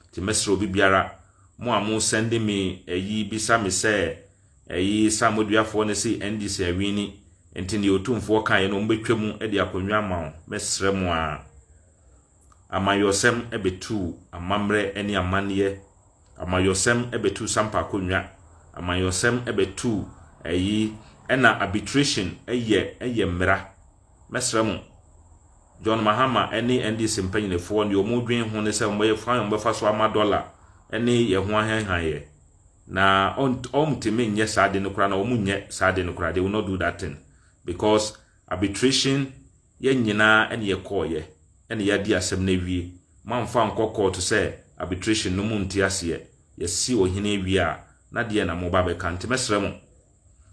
Nti mɛsrɛ obi biara, mo a mo sɛnde me ayi bisa me sɛ ayi samoduafoɔ no se NDC awini, nti deɛ otumfoɔ kaeɛ no wɔn bɛtwa mu de akonnwa ama wo, mɛsrɛ mo a. Amayɔsɛm bɛtu amammerɛ ne amanneɛ, amayɔsɛm bɛtu sampa akonnwa, amayɔsɛm bɛtu ayi, ɛna arbitration yɛ yɛ mmara. Mɛsrɛ mo, John Mahama ne NDC mpanyinefoɔ deɛ wɔn dwen ho ne sɛ wɔn bɛyɛ kwan wɔn bɛfa so ama dɔla ne yɛn ho ahanhan yɛ. Na wɔn tumi nyɛ saa de no koraa na wɔn nyɛ saa de no koraa they will not do that thing because arbitration yɛn nyinaa ɛne yɛ kɔɔ yɛ ɛne yɛ adi asɛm na awie mo anfa nkɔ kɔɔto sɛ arbitration no mo nti aseɛ yɛsi ohene awie a na deɛ na mo ba bɛka nti mɛsrɛ mo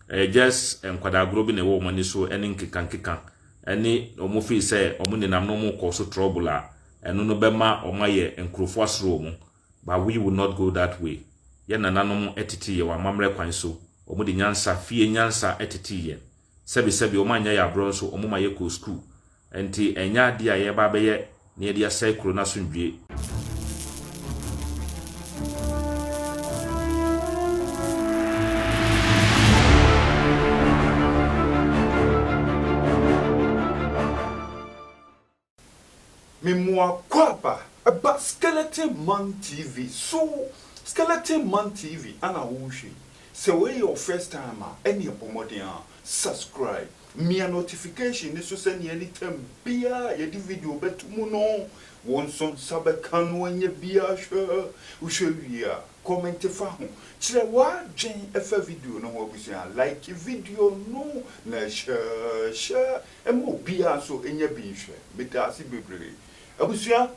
ɛyɛ just nkwadaa agorɔ bi na ɛwɔ wɔn ani so ɛne nkekankeka ɛne wɔn firi sɛ wɔn nenam no wɔn kɔ so trouble a ɛno no bɛma wɔn ayɛ nkurɔfoɔ asoro wɔn but we will not go that way yɛn nananom ɛtete yɛ wɔn amammerɛ kwan so wɔn de nyansa fie nyansa ɛtete yɛn sɛbisɛbi wɔn anyɛ yɛ aborɔ nso wɔn ma yɛ kɔ school Enti ɛnyɛ adeɛ a yɛreba abɛyɛ na yɛde asɛe kuro no asomdwoeɛ. Memoa Kwaba ba Skeleton Man TV so Skeleton Man TV ana wohwɛ yi? Sɛ wei yɛ wo first time a ɛneɛ bɔ mmɔden ara subscribe. Mia notification no so sɛnea anytime biara a yɛde video bɛto mu no, wo nso nsa bɛka no anya bi ahwɛ. Wohwɛ wie a, kɔmɛnte fa ho. Kyerɛ w'adwen fa video no ho abusua. Like video no na hyɛ hyɛ ma obiara nso nya bi nhwɛ. Meda ase bebree abusua.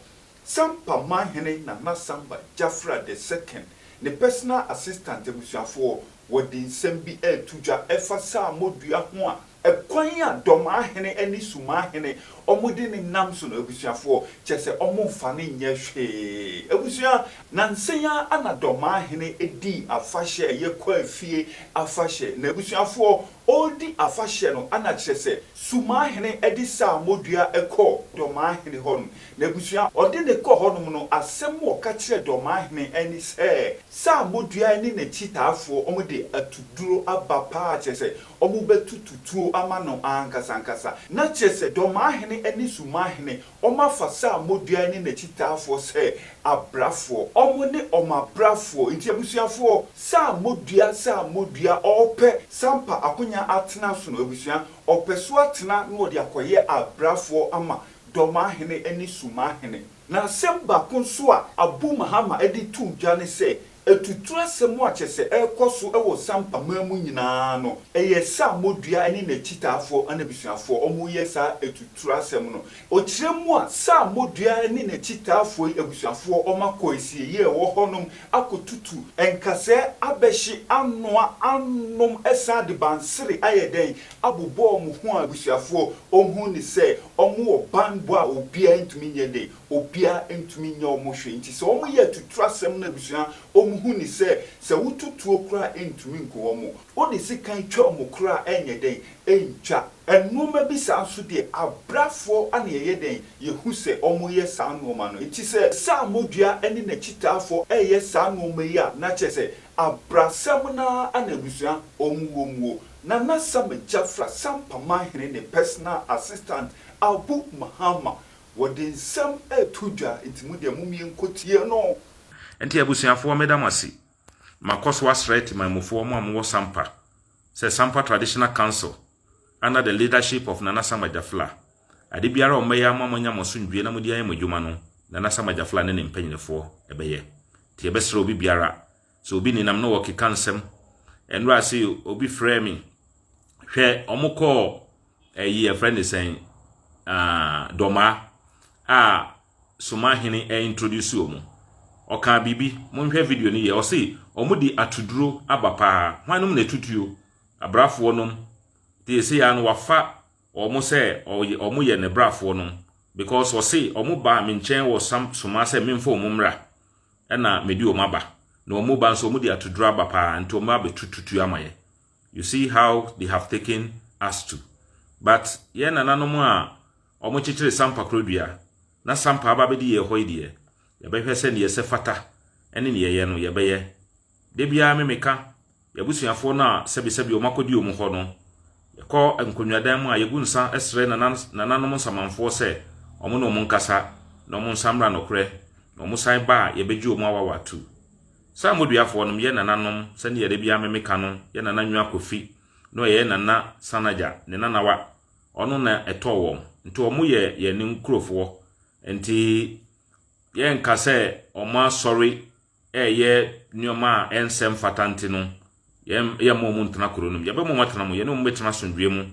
Sampa Manhene Nana Samba Jafra the Second, ne personal assistant abusuafoɔ, wɔde nsɛm bi reto dwa ɛfa Saamo dua ho a ɛkwan a Dɔmahene ɛne Sumahene wɔn de ne nam so no abusuafoɔ kyɛ sɛ wɔn nfa no nyɛ hwee abusua. Nansa yi ara na Dɔmahene dii afahyɛ a ɛyɛ Kwaafie afahyɛ na abusuafoɔ ɔredi afahyɛ no na kyerɛ sɛ Sumahene de Saamo dua kɔɔ Dɔmahene hɔ nom N'abusua a ɔde no kɔɔ hɔnom no, asɛm a wɔka kyerɛɛ dɔm ahene ne sɛ, Saa bodua yi ne n'akyitaafoɔ, wɔde atuduro aba paa, kyerɛ sɛ, wɔbɛtutu tuo ama no ankasa ankasa. Na kyerɛ sɛ, dɔm ahene ne sum ahene, wɔafa saa bodua yi ne n'akyitaafoɔ sɛ abrafoɔ. Wɔne wɔn abrafoɔ. Enti abusuafoɔ, saa bodua, saa bodua a ɔrepɛ sɛ ampa akonya atena so no, abusua, ɔpɛ so atena na ɔde akɔyɛ abrafoɔ ama Dɔmahene ne Sumahene. Na asɛm baako nso a Abu Mahama de too dwa ne sɛ atuturu asɛm a kyerɛ sɛ ɛrekɔ so wɔ Sampa man mu nyinaa no, ɛyɛ Saamodua ne n'akyitaafoɔ ne abusuafoɔ a wɔreyɛ saa atuturu asɛm no. Ɔkyerɛ mu a, Saamodua ne n'akyitaafoɔ yi abusuafoɔ akɔ asieyie a ɛwɔ hɔnom akɔtutu nkasɛɛ abɛhye, anoa, anom, san de bansere ayɛ dɛn, abobɔɔ mo ho a abusuafoɔ ɔhu ne sɛ ɔmo wɔ banbɔ a obiaa ntumi nyɛ dɛ obiaa ntumi nyɛ ɔmo hwee nti sɛ ɔmo yɛ atutuo asɛm na abusua ɔmo hu ne sɛ sɛ wotu tuo koraa ɛntumi nku ɔmo wode sekan twa ɔmo koraa ɛnyɛ dɛn ɛntwa. Nnoɔma bi saa nso deɛ abrafoɔ na yɛyɛ dɛn yɛhu sɛ ɔmo yɛ saa nnoɔma no nti sɛ sɛ amodua ne nakyitaafoɔ ɛyɛ saa nnoɔma yi a na kyerɛ sɛ abrasɛm no ara na abusua ɔmo wɔ muo. Nana Sam Jafra Sampama Hene ne personal assistant Abu Mahama wɔde nsɛm reto dwa nti mo deɛ momie nkɔ tie no. Ɛnti abusuafoɔ meda mo ase. Makɔ so asrɛ Temanmufoɔ mo a mowɔ Sampa sɛ Sampa Traditional Council under the leadership of Nana Sam Ajafla ade biara a wɔbɛyɛ ama mo anya mo asomdwie na mode ayɛ mo adwuma no Nana Sam Ajafla ne ne mpanyinifoɔ bɛyɛ nti yɛbɛsrɛ obi biara Sɛ obi nenam na wɔkeka nsɛm. Ɛnora ase yi obi frɛɛ me. Hwɛ, wɔn kɔɔ ɛyi ɛfrɛ ne sɛn dɔmaa a soma hene ɛintroduce wɔn. Ɔkaa biribi, monhwɛ video no yɛ. Ɔse wɔn de atuduro aba paa. Hwan nom na ɛtutuo? Abrafoɔ nom. Te ɛsɛ yaa no wafa wɔn sɛ wɔyɛ ne brafoɔ nom because ɔse wɔn baa me nkyɛn wɔ Somaa sɛ memfa wɔn mmra ɛna mede wɔn aba na wɔn ba nso wɔn de atuduro aba paa nti wɔn abɛtu tutuo ama yɛ you see how they have taken us to but yɛn nananom a wɔn kyekyere sampa korodua na sampa aba bɛdi yɛ hɔ yi deɛ yɛbɛhwɛ sɛ neɛ ɛsɛ fata ɛne neɛ ɛyɛ no yɛbɛyɛ Da biara me meka y'abusuafoɔ no a sɛbesɛbe wɔn akɔdi wɔn hɔ no, yɛkɔ nkonnwadan mu a yɛgu nsa srɛ nananom nsamanfoɔ sɛ wɔn ne wɔn nkasa na wɔn nsa mmra nokorɛ na wɔn san ba a yɛbɛgye wɔn awawa atu. Saa mmoduafoɔ no yɛ nananom sɛdeɛ da biara me meka no yɛ nana Nwa Kofi na ɔyɛ nana Sanagya ne nanawa ɔno na ɛtɔɔ wɔn nti wɔn yɛ yɛn nkurofoɔ nti yɛnka sɛ wɔn asɔre reyɛ nneɛma a ɛnsɛ mfata nti no, yɛmma wɔn ntena kuro no mu. Yɛbɛma wɔn atena mu, yɛne wɔn bɛtena asomdwoeɛ mu,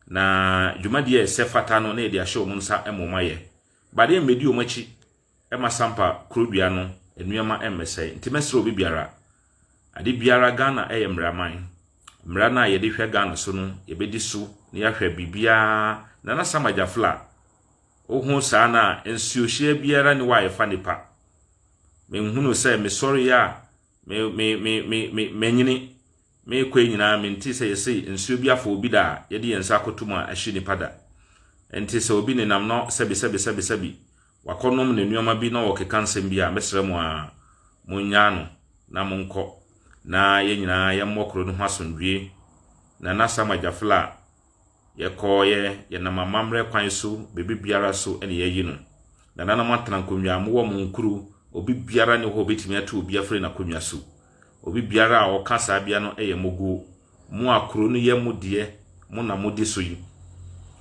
na dwumadie a ɛsɛ fata no na yɛde ahyɛ wɔn nsa ma wɔn ayɛ. But yɛmmɛdi wɔn akyi ma sampa kuro dua no nneɛma mmɛsɛe. Nti mɛsrɛ obi biara, ade biara Ghana yɛ mmaraman. Mmara no a yɛde hwɛ Ghana so no, yɛbɛdi so na yɛahwɛ biribiara. Nana Sam Agyafla, Wohu saa no a, nsuohyeɛ biara nni hɔ a yɛfa nnipa. Menhunuu sɛ mesɔreeɛ a me, me, me, me, me, manyini merekɔɛ nyinaa mentee sɛ yɛse nsuo bi afa obi da a yɛde yɛn nsa akɔto mu a ahye nipa da. Enti sɛ obi nenam na sɛbi sɛbi sɛbi sɛbi wakɔnom ne nneɛma bi na ɔrekeka nsɛm bi a, mɛsrɛ mo ara monnyaa no na monkɔ na yɛn nyinaa yɛmmɔ kuro no ho asomdwoeɛ. Nana Sam Agyafla. Yɛkɔeɛ, yɛnam amammerɛ kwan so, biribiara so na yɛayi no. Nananom atena nkonnwa a mowɔ mo nkuro, obibiara nni hɔ a ɔbɛtumi atu obi afiri n'akonnwa so. Obibiara a ɔka saa bea no yɛ moguo. Mo a kuro no yɛ mo deɛ, mo na modi so yi,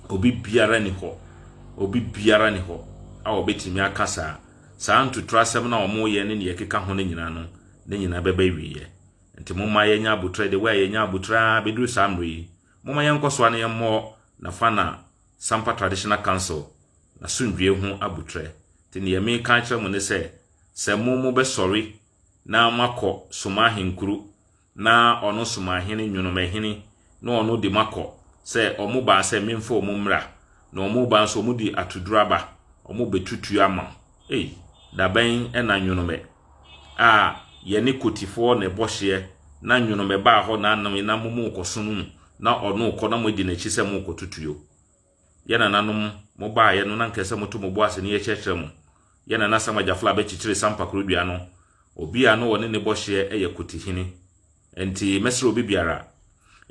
obibiara nni hɔ, obibiara nni hɔ a ɔbɛtumi aka saa. Saa ntuturasɛm no a wɔyɛ ne nea ɛkeka ho no nyinaa no, ne nyinaa bɛba awieɛ. Nti momma yɛnyɛ abotire, the way a yɛnya abotire ara bɛduru saa mmerɛ yi, Momma yɛnkɔ so ara na yɛmmɔ Nafana Sampa Traditional Council n'asomdwoeɛ ho abutrɛ. Nti neɛ meka akyerɛ mo ne sɛ, sɛ mo mobɛsɔre na moakɔ Somahenkuru na ɔno Somahene Nwonomahini na ɔno de moakɔ, sɛ ɔmo baa sɛ memfa ɔmo mmra, na ɔmo ba nso ɔmo de atoduro aba, ɔmo bɛtutuo ama mo. Ei, dabɛn na Nyonomɛ a yɛne Kotifoɔ na ɛbɔ hyeɛ na Nyonomɛ baa hɔ na nam na mo mo kɔ sono mu na ɔno rekɔ na mo adi n'akyi sɛ mo rekɔ tutuo. Yɛ nananom, mo baeɛ no na nka sɛ moto mo bo ase na yɛkyerɛkyerɛ mo. Yɛ nana Sam Agyafla abɛkyekyere Sam Pakorodua no. Obi a na ɔne ne bɔ hyeɛ yɛ Kotihene. Ɛnti mɛsrɛ obi biara,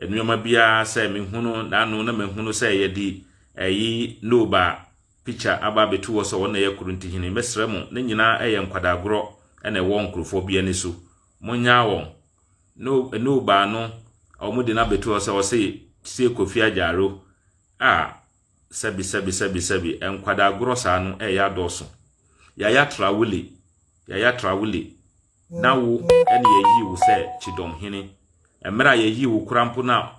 nnoɔma biara sɛ mehunu n'ano na mahunu sɛ yɛdi ɛyi no ba a, picture aba abɛtu hɔ sɛ wɔn na ɛyɛ Korintohene. Mɛsrɛ mo, ne nyinaa yɛ nkwadaa gorɔ na ɛwɔ nkorɔfoɔ bi ani so. Monnyaa wɔn. No, no baa no a wɔn de no abɛtu hɔ sɛ ɔse tie Kofi Agyaro. Ah, sɛbi, sɛbi, sɛbi, sɛbi, nkwadaa gorɔ saa no ɛyɛ adɔɔso. Yaya Traole, Yaya Traole, Na wo na yɛayii wo sɛ kyidɔm hene. Mmerɛ a yɛyii wo kora mpo na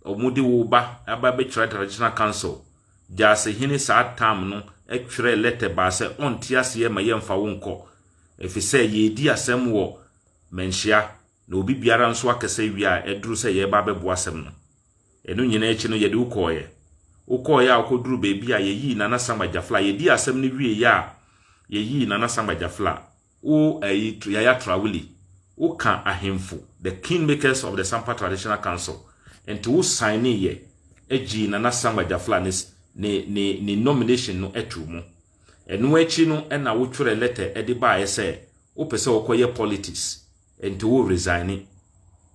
wɔde wo ba aba bɛkyerɛ Traditional Council Gyasi hene saa tam no twerɛɛ lɛtɛ baa sɛ ɔnte aseɛ ma yɛmfa wo nkɔ efisɛ yɛredi asɛm wɔ Manhyia na obi biara nso akasa wie a aduru sɛ yɛreba abɛboa asɛm no. Ɛno nyinaa akyi no yɛde wo kɔeɛ. Wokɔeɛ a wokɔduruu baabi a yɛyii Nana Samba Gyafla. Yɛdii asɛm no wieeɛ a yɛyii Nana Samba Gyafla. wo ayi Yaya Trauli, woka ahemfo, the king makers of the Sampa Traditional Council, nti wo sign yɛ agyii Nana Sangba Jafla ne ne ne ne nomination no atuu mu. Ɛno akyi no ɛna wotwerɛ letter ɛde baeɛ sɛ wopɛ sɛ wokɔyɛ politics nti wo resigne.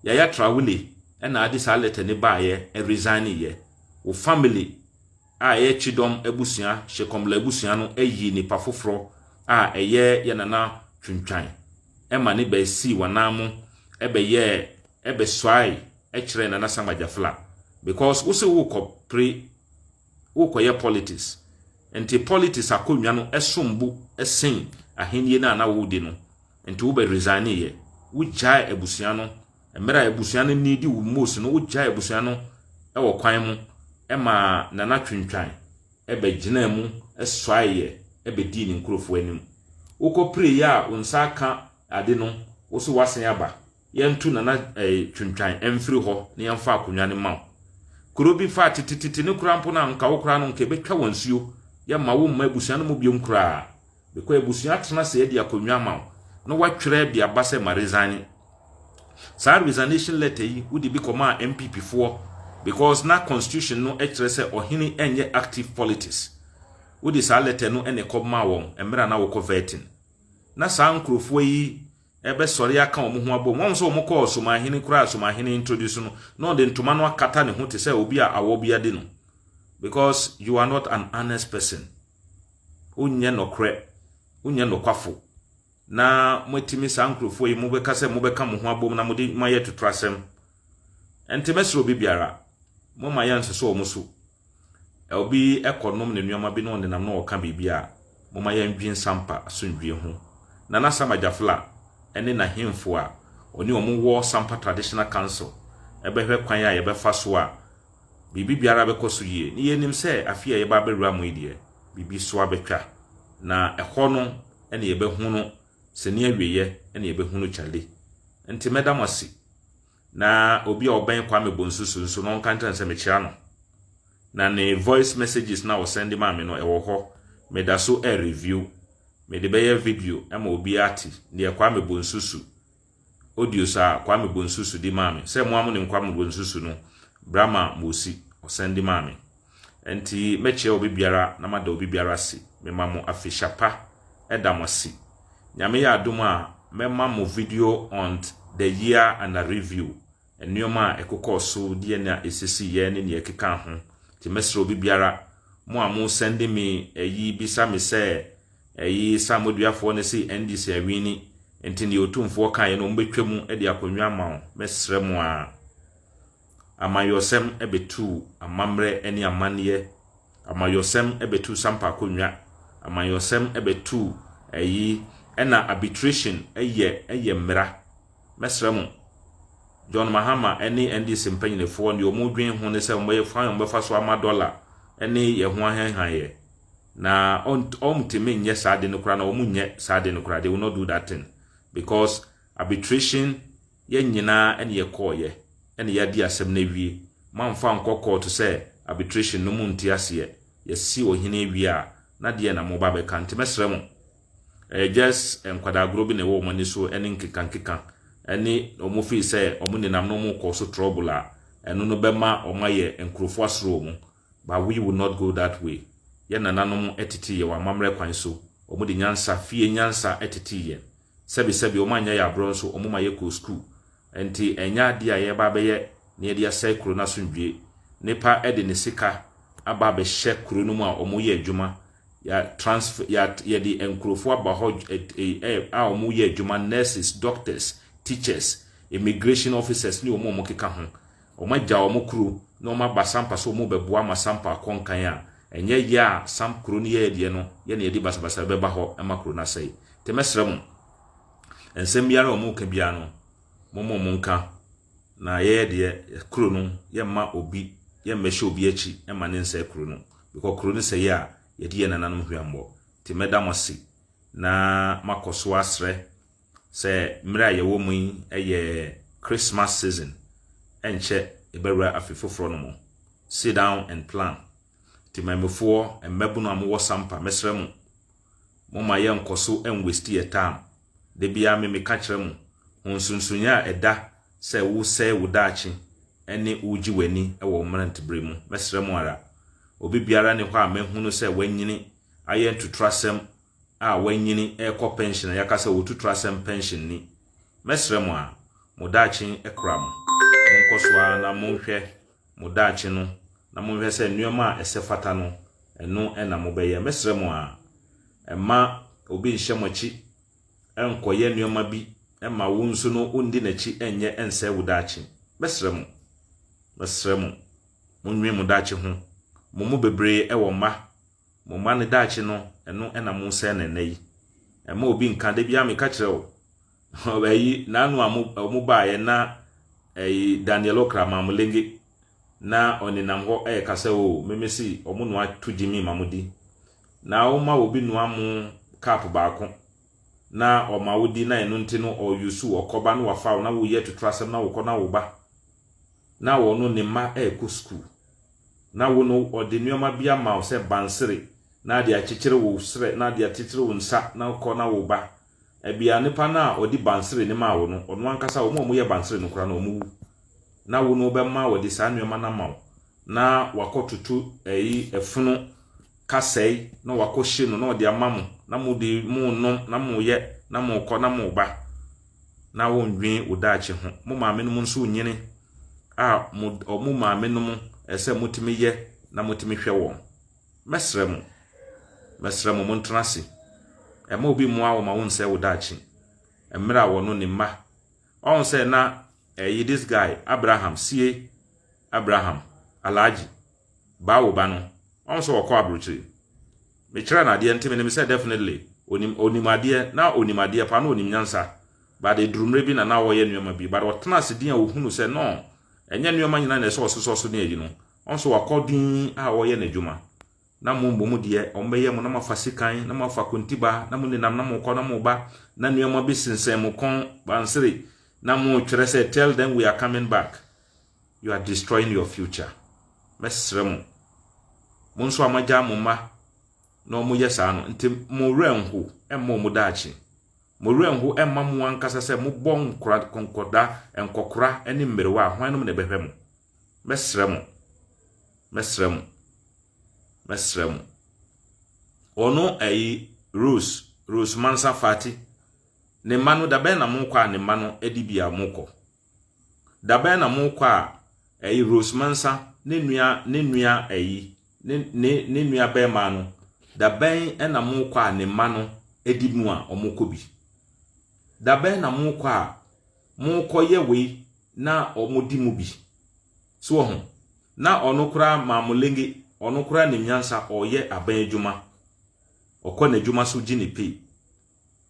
Yaya Traole na ade saa letter no baeɛ, ɛresigne yɛ. Wo family a ɛyɛ Chidom abusua, Shekomla abusua no yii nipa foforɔ a ɛyɛ yɛ nana Twintwan ma ne bɛ sii wanan mo bɛ yɛɛ ɛbɛ suae kyerɛɛ nana Samuel Jafla because wo se wo kɔ pre wo kɔ yɛ politics nti politics akonnwa no ɛsom bo sen ahennie no a na wo di no. Nti wobɛ resign yɛ? Wo gyae abusua no mmerɛ a abusua no needi wo most no wo gyae abusua no wɔ kwan mo ɛma Nana Twintwan ɛbɛ gyinaa mu ɛsuae yɛ ɛbɛ dii ne nkurofoɔ anim. Wokɔ pire yɛ a wo nsa aka ade no wo so woasen aba. yɛnto Nana eh, Twintwan mfiri hɔ na yɛmfa akonnwa no ma wo. Kuro bi fa tetetete no koraa mpo no a, nka wo koraa no nka ɛbɛtwa wɔn nsuo. Yɛmma wo mma abusua no mu biom koraa. Bɛkɔ abusua atena ase adi akonnwa ama wo na woatwerɛ de aba sɛ maresigne. Saa resignation letter yi, wode bi kɔmaa NPP foɔ because na constitution no kyerɛ sɛ ɔhene nyɛ active politics. Wode saa letter no na ɛkɔmaa wɔn mmerɛ a na wokɔ vetting. Na saa nkurɔfoɔ yi ɛbɛsɔre aka wɔn ho abom. Wɔn nso wɔn kɔɔ Somanhene koraa Somanhene introduce no na ɔde ntoma no akata ne ho te sɛ obi a awɔ bi adi no because you are not an honest person. Wonyɛ nɔkorɛ, wonyɛ nɔkwafo. Na moatumi saa nkurɔfoɔ yi mobɛka sɛ mobɛka mo ho abom na mode moayɛ totorasɛm. Ɛnte mɛsrɛ obi biara, momma yɛnsosɔ wɔn so. Obi kɔnom ne nnoɔma bi na ɔnenam na ɔreka biribi a, momma yɛndwen Sampa asomdwoeɛ ho. Nana Sam Agyafla ne n'ahemfo a ɔne wɔn wɔ Sampa Traditional Council bɛhwɛ kwan a yɛbɛfa so a biribi biara bɛkɔ so yie. Ne yɛnim sɛ afei a yɛba abɛwura mu yi deɛ, biribi so abɛtwa. Na ɛhɔ no na yɛbɛhunu sini awieɛ na yɛbɛhunu Charlie. Nti mɛda mo ase. Na obi a ɔbɛn Kwame Bonsu so nso no ɔnka nkyerɛ no sɛ mekyira no. Na ne voice messages na ɔsɛnde maa me no ɛwɔ hɔ. Meda so ɛ review. Mede bɛyɛ video ma obi ate deɛ Kwame Bonsu su audios a Kwame Bonsu su di maa me. Sɛ mo a mo nim Kwame Bonsu su no, Brahma Mosi ɔsɛnde maa me. Enti mɛkyerɛ obi biara na mada obi biara ase. Mema mo afehyia pa. Ɛda mo ase. Nyame yɛ adom a, mɛma mo video on the year and a review, nneɛma a ɛkokɔɔ so, deɛn a ɛsisiiɛ ne nea ɛkeka ho. Nti mɛsrɛ obi biara, mo a mo sɛnde me ayi bisa me sɛ ayi Samoduafoɔ no se NDC awini, nti deɛ Otumfoɔ kaeɛ no wɔbɛtwa mu de akonnwa ama wo. Mɛsrɛ mo ara. Amannyɔsɛm bɛtuu amammerɛ ne amanneɛ, amannyɔsɛm bɛtuu sampa akonnwa, amannyɔsɛm bɛtuu ayi, ɛna arbitration yɛ yɛ mmara. Mɛsrɛ mo, John Mahama ne NDC mpanyinifoɔ deɛ wɔn dwen ho ne sɛ wɔn bɛyɛ fan wɔn bɛfa so ama dɔla ne yɛn ho ahɛnhan yɛ. Na wɔn tumi nyɛ saa de no koraa na wɔn nyɛ saa de no koraa, they will not do that thing because arbitration yɛn nyinaa na yɛkɔɔeɛ na yɛadi asɛm no awie. Moamfa ankɔ kɔɔto sɛ arbitration no monte aseɛ. Yɛasi ɔhene awie a, na deɛn na moreba abɛka? Nti mɛsrɛ mo, ɛyɛ just nkwadaa agorɔ bi na ɛwɔ wɔn ani so ne nkekankeka ne wɔn fii sɛ wɔn nenam no wɔkɔɔ so trouble a, ɛno no bɛma wɔn ayɛ nkurɔfoɔ asoro wɔn. But we will not go that way. Yɛn nananom tetee yɛn wɔ amammerɛ kwan so. Wɔde nyansa, fie nyansa tetee yɛn. Sɛbesɛbe, wɔannya yɛn aborɔ nso, wɔma yɛkɔɔ sukuu. Enti, ɛnyɛ adeɛ a yɛreba abɛyɛ na yɛde asɛe kuro no asomdwoeɛ. Nnipa de ne sika aba abɛhyɛ kuro no mu a wɔyɛ adwuma. Yɛ transfer, yɛ, yɛde nkurɔfoɔ aba hɔ a wɔyɛ adwuma, nurses, doctors, teachers, immigration officers ne wɔn a wɔkeka ho. Wɔagyaw wɔn kuro na wɔaba Sampa sɛ wɔrebɛboa ma Sampa akɔ nkan a, ɛnyɛ yɛ a Samp kuro no yɛɛ deɛ no, yɛ na yɛde basabasa rebɛba hɔ ma kuro no asɛe. Nti mɛsrɛ mo, nsɛm biara a wɔreka biara no, momma wɔnka, na yɛyɛ deɛ yɛ kuro no, yɛmma obi, yɛmmɛhyɛ obi akyi mma no nsɛe kuro no, because kuro no sɛeɛ a, yɛde yɛn nananom hweammɔ. Nti mɛda mo ase na makɔ so asrɛ sɛ mmerɛ a yɛwɔ mu yi yɛ Christmas season, ɛnkyɛ yɛbɛwura afe foforɔ no mu. Sit down and plan. Temanmufoɔ, mmabunu a mowɔ sampa, mɛsrɛ mo, momma yɛnkɔ so nwasti yɛ tam. Da biara me meka kyerɛ mo, ho nsonsonoeɛ a ɛda sɛ wosɛe wo daakye ne wogye w'ani wɔ wo mmeranteberɛ mu. Mɛsrɛ mo ara. Obi biara nni hɔ a mahunu sɛ wanyini ayɛ ntotorasɛm a wɔanyini rekɔ pɛnhyen a yɛaka sɛ wɔtu tra sɛ mpɛnhyen ni. Mɛsrɛ mo ara, mo daakye kura mo. Monkɔ so ara na monhwɛ mo daakye no na monhwɛ sɛ nneɛma a ɛsɛ fata no, ɛno na mobɛyɛ. Mɛsrɛ mo ara, mma obi nhyɛ mo akyi nkɔyɛ nneɛma bi mma wo nso no wondi n'akyi nyɛ nsɛe wo daakye. Mɛsrɛ mo, mɛsrɛ mo, monnwen mo daakye ho. Mo mu bebree wɔ mma, Mo mma no daakye no, ɛno na mosɛe no nnɛ yi. Mma obi nka, da biara meka kyerɛ wo, ayi, naanu a wɔn baeɛ na ayi, Daniel Okra Mamulenge, na ɔnenam hɔ ɛreka sɛ, o, meme se wɔn noa to gyimi ma mo di. Na woma obi noa mo cup baako, na ɔma wo di, na ɛno nti no ɔyusu, ɔkɔba na wafa wo, na woyɛ atuturasɛm na wokɔ na woba. Na ɔno ne mma ɛrekɔ sukuu. Na wo no, ɔde nnoɔma bi ama wo sɛ bansere, na ade akyekyere wo serɛ, na ade akyekyere wo nsa, na kɔ na woba. Ɛbea nipa no a ɔde bansere no maa wo no, ɔno ankasa, wɔn a wɔyɛ bansere no koraa no, wɔwu. Na wo no, ɔbɛma wɔde saa nnoɔma no ama wo, na wakɔtoto ɛyi, ɛfono kasɛe, na wakɔhye no, na ɔde ama mo, na mode, monom, na moyɛ, na mokɔ, na moba. na wondwen wo daakye ho. Mo maamenom nso nyini a mo ɔmo maamenom ɛsɛ motumi yɛ na motumi hwɛ wɔn. Mɛsrɛ mo, mɛsrɛ mo montena ase. Ɛma obi mmoa wo ma wonsɛe wo daakye. Mmerɛ a wɔno ne mma. Ɔho sɛ na ɛyi this guy Abraham sie Abraham Alhaji baa wo ba no wahu sɛ ɔkɔ abrokyire me kyerɛ no adeɛ nti me nim sɛ definitely onim onim adeɛ na onim adeɛ paa na onim nyansa but eduru mmerɛ bi na na ɔyɛ nneɛma bi but ɔtena ase din a ohunu sɛ no ɛnyɛ nneɛma nyinaa na ɛsɛ ɔsosɔ so ne ayi no ɔn so wakɔ din a ɔyɛ n'adwuma na mo mbɔ mu deɛ ɔn bɛyɛ mo na mo afa sikan na mo afa kontiba na mo nenam na mo kɔ na mo ba na nneɛma bi sensɛn mo kɔn bansere na mo kyerɛ sɛ tell them we are coming back You are destroying your future. Mɛsrɛ mo, mo nso a moagyaa mo mma na wɔyɛ saa no, nti mo werɛ nho mma wɔn daakye. Mo werɛ nho mma mo ankasa sɛ mobɔ nkora, nkɔda, nkɔkora ne mmerewa a, hwan nom na ɛbɛhwɛ mo? Mɛsrɛ mo. Mɛsrɛ mo. Mɛsrɛ mo. Ɔno ɛyi Rose, Rose Mansa Fati, ne mma no da bɛn na mokɔ a ne mma no de bi a mokɔ? Dabɛn na mokɔ a ɛyi Rose Mansa ne nua ne nua ɛyi ne ne ne nua bɛrima no dabɛn na mokɔ a ne mma no ɛdi mu a wɔn kɔ bi dabɛn na mokɔ a mokɔ yɛ wei na wɔn di mu bi so wɔ ho na ɔno koraa maamulenge ɔno koraa ne nyansa ɔyɛ abɛn adwuma ɔkɔ n'adwuma so gye ne pay.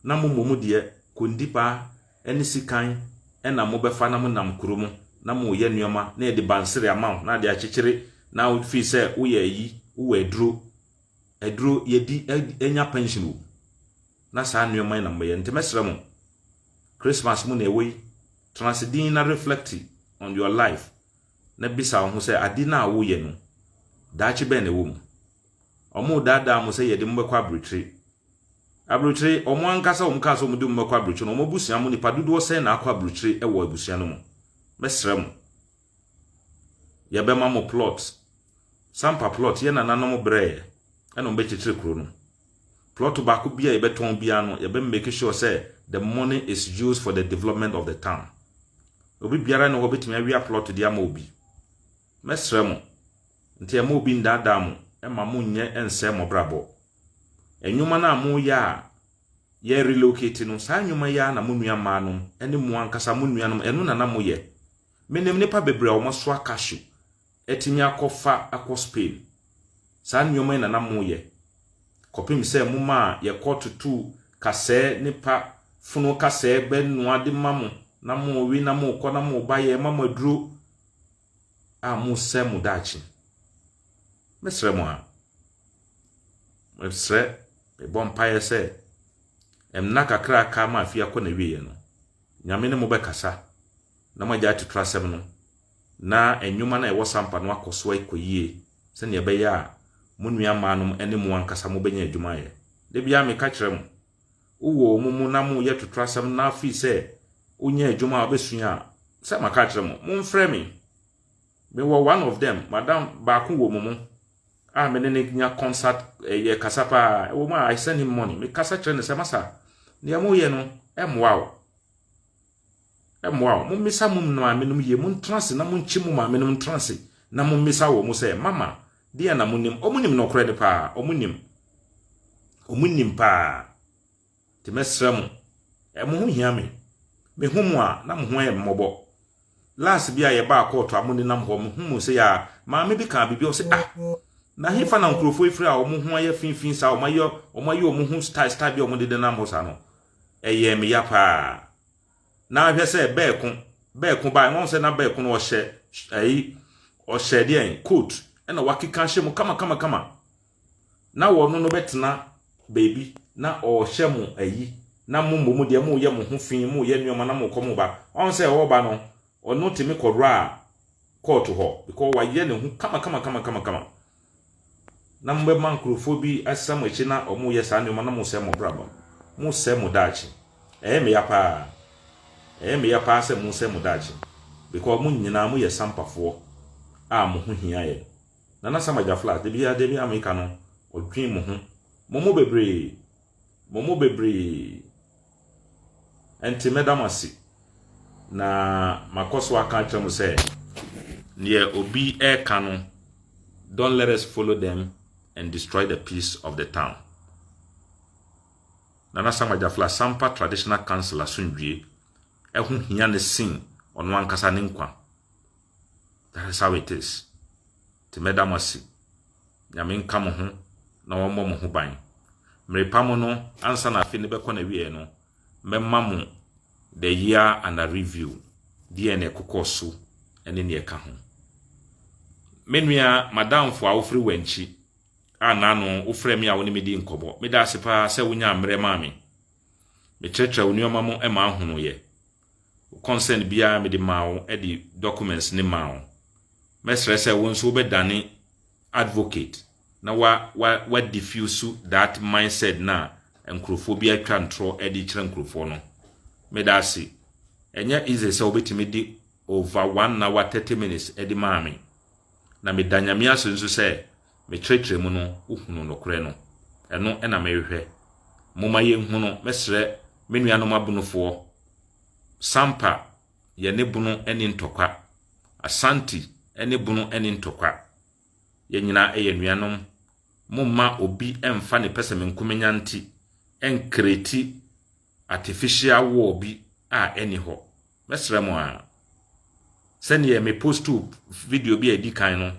na mo mmom deɛ kondi paa ne sikan na mo bɛfa na mo nam kuro mo na mo yɛ nnoɔma na yɛde bansere ama wo na ade akyekyere na wo fii sɛ wo yɛ ayi wo wɔ aduro aduro yɛdi anya pension wo na saa nnoɔma na mo yɛ nti mɛsrɛ mo Christmas mu na ɛwɔ yi tenase din na reflect on your life na bisa wo ho sɛ ade no a wo yɛ no daakye bɛn na ɛwɔ mu Wɔredaadaa mo sɛ yɛde mo bɛkɔ aburokyire. Aburokyire, wɔn ankasa wɔn kaa sɛ wɔde mo bɛkɔ aburokyire na wɔn abusua mo nipa dodoɔ sɛn na akɔ aburokyire wɔ abusua no mu? Mɛsrɛ mo. Yɛbɛma mo plot. Sampa plot, yɛn nananom brɛɛ ɛna wɔn bɛkyekyere kuro no. Plot baako bi a yɛbɛtɔn biara no, yɛbɛ make sure sɛ the money is used for the development of the town. Obi biara ne hɔ bɛtumi awia plot de ama obi. Mɛsrɛ mo, nti mma obi nnaadaa mo mma monnyɛ nsɛe moabrabɔ. Nnwuma no a moyɛ a yɛ relocate no, saa nnwuma yi ara na mo nua mmaa nom ne mo ankasa mo nuanom ɛno na na moyɛ. Menim nnipa bebree a wɔasoa cashew atumi akɔ fa akɔ Spain. Saa nneɛma yi na na moyɛ. Kɔpem sɛ momaa yɛkɔ tutuu kasɛɛ ne pa funu kasɛɛ bɛ noa de ma mo na mowe na mokɔ na moba yɛma mo aduro a mosɛe mo daakye. Mɛsrɛ mo a, mɛsrɛ, mebɔ mpaeɛ sɛ ɛmena kakra aka ma afei akɔ n'awieɛ no, Nyame ne mo bɛkasa na moagya atutura asɛm no na nnwuma no a ɛwɔ sampa no akɔ so akɔ yie sɛnea ɛbɛyɛ a mo nua mmaa nom ne mo ankasa mobɛnya adwuma ayɛ. Da biara meka kyerɛ mo, wowɔ wɔn mu na moyɛ totorasɛm na afei sɛ wonya adwuma a wobɛsua a sɛ maka akyerɛ mo momfrɛ me mewɔ one of them madam baako wɔ mu mu a me ne no nya concert eh, yɛ kasa paa ɛwɔ mu a i send him money mekasa kyerɛ no sɛ masa nea moyɛ no ɛmmoa o Mmoa wo. Mommisa mo maamenom yie. Montena ase na monkye mo maamenom ntena ase na mommisa wɔn sɛ, Mama, deɛn na monim? Wɔnim nokorɛ no paa. Wɔnim. Wɔnim paa. Nti mɛsrɛ mo, mo ho hia me. Mehu mo a, na mo ho yɛ mmɔbɔ. Last bi a yɛbaa kɔɔto a monenam hɔ, mehu mo sɛ yɛ a, maame bi kaa biribi, ɔsɛ ah, na hefa na nkurɔfoɔ yi firi a wɔn ho ayɛ finfin saa, wɔn ayɛ wɔn ho style style bi a wɔde denam hɔ saa no. ɛyɛɛ me ya paa. Na ahwɛ sɛ bɛɛko bɛɛko baa na sɛ na bɛɛko no ɔhyɛ ɛyi ɔhyɛ deɛn coat ɛna wakeka hyɛ mu kama kama kama na wɔn no bɛtena baabi na ɔhyɛ mo ɛyi na mo mmom deɛ mo yɛ mo ho fi mo yɛ nneɛma na mo kɔ mo ba ɔn sɛ ɔba no ɔno temi kɔdora kɔɔto hɔ because wayɛ ne ho kama kama kama kama kama na mobɛma nkurɔfoɔ bi asan mo akyi na wɔyɛ saa nneɛma na mosɛe mo abrabɔ, mosɛe mo daakye. Ɛyɛ me ya paa. Ɛyɛ me ya paa sɛ mosɛe mo daakye because mo nyinaa moyɛ sampafoɔ a mo ho hia yɛn. Nana Sam Agyafla, da biara da biara meka no, ɔdwen mo ho. Mo mo bebree. Mo mo bebree. Enti mɛda mo ase, na makɔ so aka akyerɛ mo sɛ, deɛ obi reka no, don't let us follow them and destroy the peace of the town. Nana Sam Agyafla Asampa Traditional Council asomdwie ɛho hia ne sen ɔno ankasa ne nkwa. That is how it is. Nti mɛda mo ase. Nyame nka mo ho na wɔmmɔ mo ho ban. Merepa mo no, ansa na afe no bɛkɔ n'awieɛ no, mɛma mo the year under review, deɛ na ɛkokɔɔ so ne nea ɛka ho. Me nua madamfo a wofiri Wankyi a n'ano wofrɛ me a wo ne me di nkɔmmɔ, meda ase paa sɛ wonyaa mmerɛ maa me. Mekyerɛkyerɛ wo nneɛma mu maa honoeɛ. Wo concern biara mede maa wo de documents ne maa wo. Mɛsrɛ sɛ wo nso wobɛdane advocate na wa wa wa diffuse that mindset na nkurɔfoɔ bi atwa ntorɔ de kyerɛ nkurɔfoɔ no. Meda ase. Ɛnyɛ easy sɛ wobɛtumi de over one hour thirty minutes de maa me. Na meda Nyame ase nso sɛ Me kyerɛkyerɛ mu no wohunu nokorɛ no, ɛno na mehwehwɛ. Momma yɛnhu no, mɛsrɛ me nuanom abonofoɔ. Sampa, yɛne bono nni ntɔkwa. Asante, ɛne bono nni ntɔkwa. Yɛn nyinaa yɛ nuanom. Momma obi mfa ne pɛsɛmenkomenya nti nkreti artificial wall bi a ɛni hɔ. Mɛsrɛ mo ara, sɛdeɛ me postoo video bi a ɛdi kan no,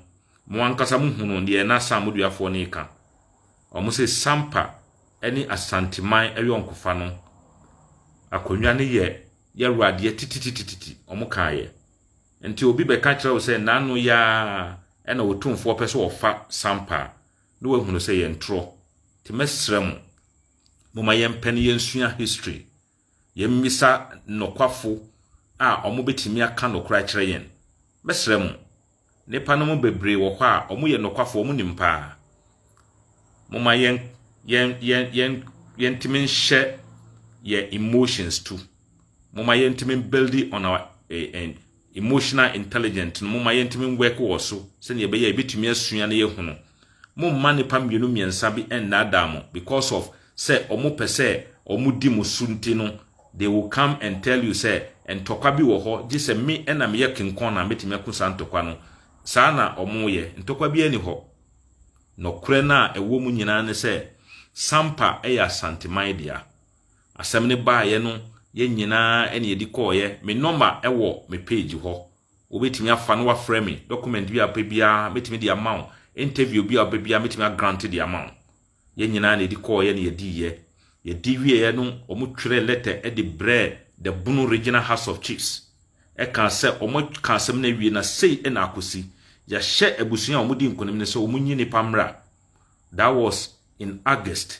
mo ankasa mo hunu deɛ na saa moduafoɔ no reka. Wɔn sɛ Sampa ne Asanteman ayɔnkofa no, akonnwa no yɛ yɛwuradeɛ tititititi, wɔn kaeɛ. Nti obi bɛka kyerɛ wo sɛ n'ano yɛ ara ɛna otumfoɔ pɛ sɛ ɔfa Sampa a, na wahunu sɛ yɛn torɔ. Nti mɛsrɛ mo, Momma yɛmpɛ na yɛnsua history. Yɛmmisa nokwafo a wɔbɛtumi aka nokorɛ akyerɛ yɛn. Mɛsrɛ mo, nnipa no mu bebree wɔ hɔ a wɔyɛ nokwafo, wɔnim paa. Momma yɛn, yɛn, yɛn, yɛn, yɛntumi nhyɛ yɛn emotions to. Momma yɛntumi build on our eh, eh, emotional intelligent no momma yɛntumi nwɛke wɔ so sɛnea ɛbɛyɛ a yɛbɛtumi asua na yɛahunu. Momma nnipa mmienu mmiɛnsa bi nnaadaa mo because of sɛ wɔpɛ sɛ wɔdi mo so nti no, they will come and tell you sɛ ntɔkwa bi wɔ hɔ, gye sɛ me na meyɛ kenkɔn na mɛtumi ako saa ntɔkwa no. Saa na wɔyɛ. Ntɔkwa biara nni hɔ. Nɔkorɛ no a ɛwɔ mu nyinaa ne sɛ, Sampa yɛ Asanteman dea. asɛm no baeɛ no, yɛn nyinaa na yɛde kɔeɛ. Me nɔma wɔ me page hɔ. Wobɛtumi afa na wafrɛ me. Document bi a wopɛ biara, mɛtumi de ama wo. Interview bi a wopɛ biara, mɛtumi agrante de ama wo. Yɛn nyinaa na yɛde kɔeɛ na yɛdiiɛ. Yɛdi wieeɛ no, wɔtwerɛɛ letter de brɛɛ the Bono Regional House of Chiefs. Ɛkaa sɛ wɔaka asɛm no awie na sei na akɔsi. Yɛahyɛ abusua a wɔdi nkonim no sɛ wɔnyi nnipa mmra. That was in August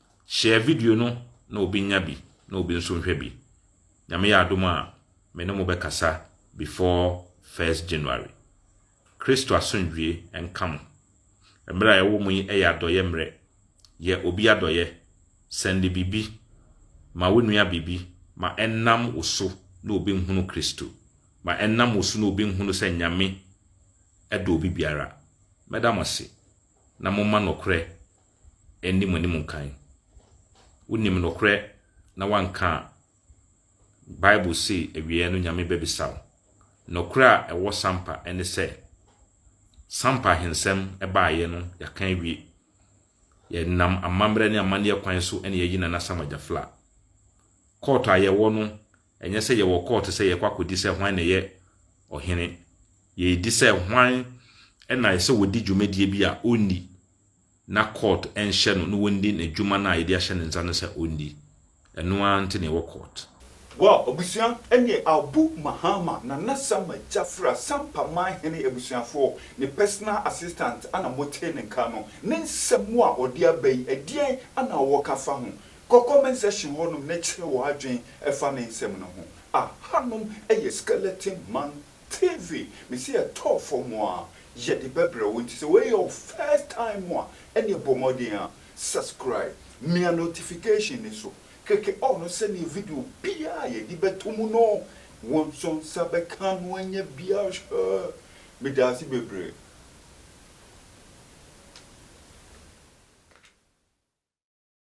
Share video no na obi nya bi na obi nso nhwɛ bi. Nyame yɛ adom a, me ne mo bɛkasa before first January. Kristo asomdwie nka mo. Mmerɛ a yɛwɔ mu yi yɛ adɔyɛ mmerɛ. Yɛ obi adɔyɛ. Sɛnde biribi ma wo nua biribi ma ɛnam wo so na obi nhunu Kristo. Ma ɛnam wo so na obi nhunu sɛ Nyame dɔ obi biara. Mɛda mo ase na momma nɔkorɛ nni mo anim nkan. Wonim nokorɛ na woanka a, Bible se awieɛ no Nyame bɛbisa wo. Nokorɛ a ɛwɔ Sampa ne sɛ, Sampa ahensɛm baeɛ no yɛaka awie. Yɛnam amammerɛ ne amanneɛ kwan so na yɛayi Nana Sam Agyafla. Kɔɔto a yɛwɔ no, ɛnyɛ sɛ yɛwɔ kɔɔto sɛ yɛkɔ akɔdi sɛ hwan na ɛyɛ ɔhene. Yɛredi sɛ hwan na ɛsɛ wɔdi dwumadie bi a ɔnni. na court nhyɛ no na ɔndi n'adwuma no a yɛde ahyɛ ne nsa no sɛ ɔndi. Ɛno ara nti na yɛwɔ court. Wow abusua ɛneɛ Abu Mahama Nana Sama Gyafra Sampa Man Hene Abusuafoɔ ne personal assistant a na motee ne nka no ne nsɛm a ɔde aba yi ɛdeɛn na wɔ ka fa ho? Kɔ comment section hɔ nom na kyerɛ w'adwene fa ne nsɛm no ho. Ahanom yɛ Skeleton Man TV mese ɛtɔɔ fam a yɛde bɛbrɛ wo nti sɛ wei yɛ wo first time a ɛneɛ bɔ mmɔden a subscribe mia notification no so keke all no sɛdeɛ video biaa a yɛde bɛto mu no wo nso nsa bɛka no anya biaa medaase bebree.